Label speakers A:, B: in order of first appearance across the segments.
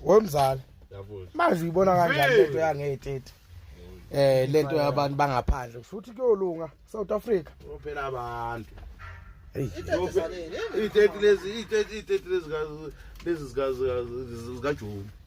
A: wemzala
B: manje uyibona kanjani
A: lento yangeyitete eh lento yabantu bangaphandle kusho ukuthi kuyolunga South Africa phela abantu itete
B: lezi itete lezi lezi zikajumu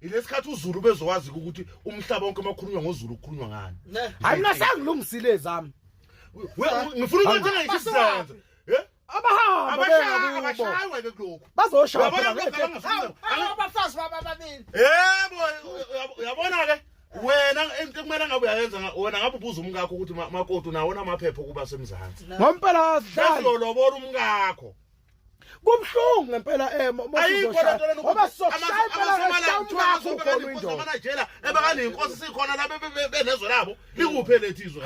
B: ilesikhathi uzulu bezowazi ukuthi umhlaba wonke makhulunywa ngozulu kukhulunywa ngani hayi mina
A: sangilungisile zami
B: ngifuna ukuthi ngayisizenze abashaywe ke
A: kulokhu
B: bazoshaya
A: abafazi
C: baba babili yebo uyabona
B: ke wena into kumele ngabe uyayenza wena ngabe ubuza umkakho ukuthi makoti unawona amaphepha okuba semzansi ngompela sidlalo
A: lolobola
B: umkakho Kumhlungu
A: ngempela eh ngoba soshaya impela ngokuthola indoda. Manajela
B: ebakani inkosi sikhona la benezwe labo likuphe lethi izwe.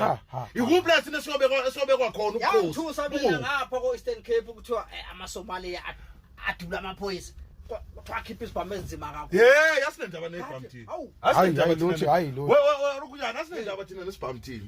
B: Ikuphi la sine siyobe siyobe kwakhona ukhosi. Yangithusa mina ngapha
C: ko Eastern Cape ukuthiwa eh, ama Somalia adula amaphoyisa. kuthiwa akhiphe isibhamu ezinzima kakhulu ye yasinendaba nebhamu
B: thina asinendaba thina hayi lutho hayi
A: lutho we we we rukunyana asinendaba
B: thina nesibhamu thina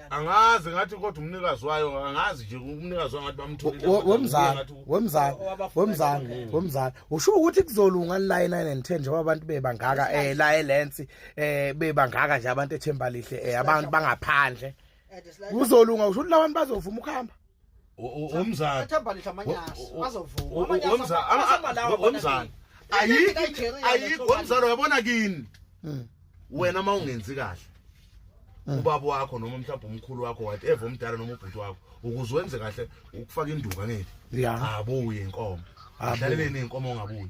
C: angazi ngathi
B: kodwa umnikazi wayo angazi nje umnikazi wangathi bamtholile wemzana wemzana wemzana wemzana usho ukuthi
A: kuzolunga la 9 and 10 njengoba abantu bebangaka eh la elensi eh bebangaka nje abantu ethemba lihle eh abantu bangaphandle kuzolunga usho ukuthi labantu bazovuma ukuhamba umzana
B: athambalisha
C: amanyasi azovuma amanyasi
B: umzana umzana ayikho ayikho umzana uyabona kini hmm. wena uma ungenzi kahle hmm. ubaba wakho noma mhlawumbe umkhulu wakho wathi eva umdala noma ubhuti wakho ukuze wenze kahle ukufaka induka ngeke abuye inkomo adlaleleni inkomo ngabuye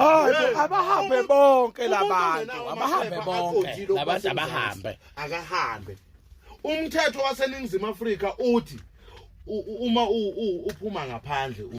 C: hayi abahambe
A: bonke labantu abahambe bonke labantu abahambe akahambe
B: umthetho waseningizimu afrika uthi uma uphuma ngaphandle